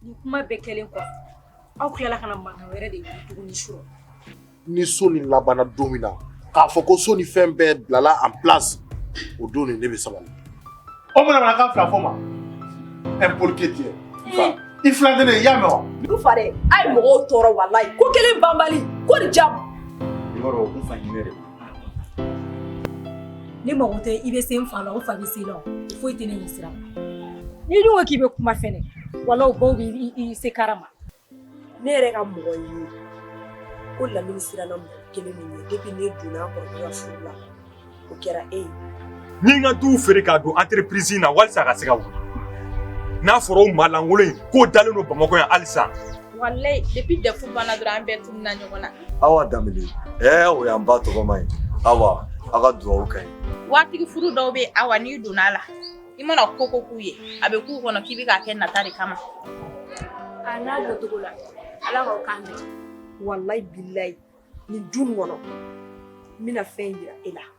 Ni kuma bɛɛ kɛlen kɔ aw tilala ka mankan wɛrɛ de ye tuguni su ni so ni labanna don min na k'a fɔ ko so ni fɛn bɛɛ bilala en place o don nin ne bɛ sabali o mana mana ka fila fɔ ma ɛ polike tɛ i fila tɛ ne i y'a mɛn wa du fa dɛ a ye mɔgɔw tɔɔrɔ walayi ko kelen banbali ko ni jamu i b'a dɔn o kun fa hinɛ de Ni mɔgɔ tɛ i bɛ se n fa la o fa bɛ se la foyi tɛ ne ɲɛ sira n'i dun ko k'i bɛ kuma fɛnɛ wala o baw b'i se kara ma ne yɛrɛ ka mɔgɔ ye ko lamini siranna mɔgɔ kelen min ɲɛ depuis ne donna kɔrɔ ka furu la o kɛra e ye ni n ka duw feere k'a don entreprise in na walisa a ka se ka wuli n'a fɔra o maa lankolon in k'o dalen don bamakɔ yan halisa walayi depuis dɛfu banna dɔrɔn an bɛɛ tununna ɲɔgɔn na Awa Danbele ɛɛ o y'an ba tɔgɔma ye Awa a ka dugawu ka ɲi. Waritigi furu dɔw bɛ yen Awa n'i donna a la i mana ko o ko k'u ye a bɛ k'u kɔnɔ k'i bɛ k'a kɛ nata de kama. A n'a doncogo la Ala k'aw kan bɛn. Walayi bilayi nin du in kɔnɔ n bɛna fɛn jira e la.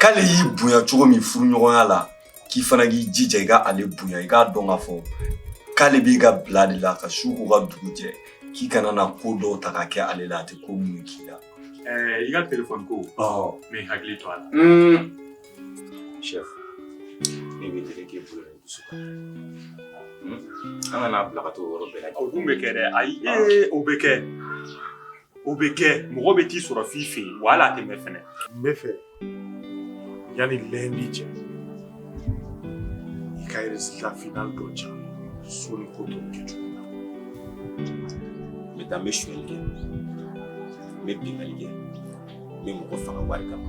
k'ale y'i bonya cogo min furuɲɔgɔnya la k'i fana k'i jija i ka ale bonya i k'a dɔn k'a fɔ k'ale b'i ka bila de la ka su ko ka dugu jɛ k'i kana na ko dɔw ta ka kɛ ale la a tɛ ko minnu k'i la i ka telefɔni ko mɛ hakili to a la chef ne b'i deli k'i bolo ni dusu kan an kana bila ka t'o yɔrɔ bɛɛ la o dun bɛ kɛ dɛ ayi o bɛ kɛ O bɛ kɛ mɔgɔ bɛ t'i sɔrɔ f'i fɛ yen wa hali a tɛ mɛn fɛnɛ n bɛ fɛ yanni lundi cɛ i ka résultat final dɔ di yan soni ko tɔw kɛ cogo la n bɛ taa n bɛ sonyali kɛ n bɛ binkanni kɛ n bɛ mɔgɔ faga wari kama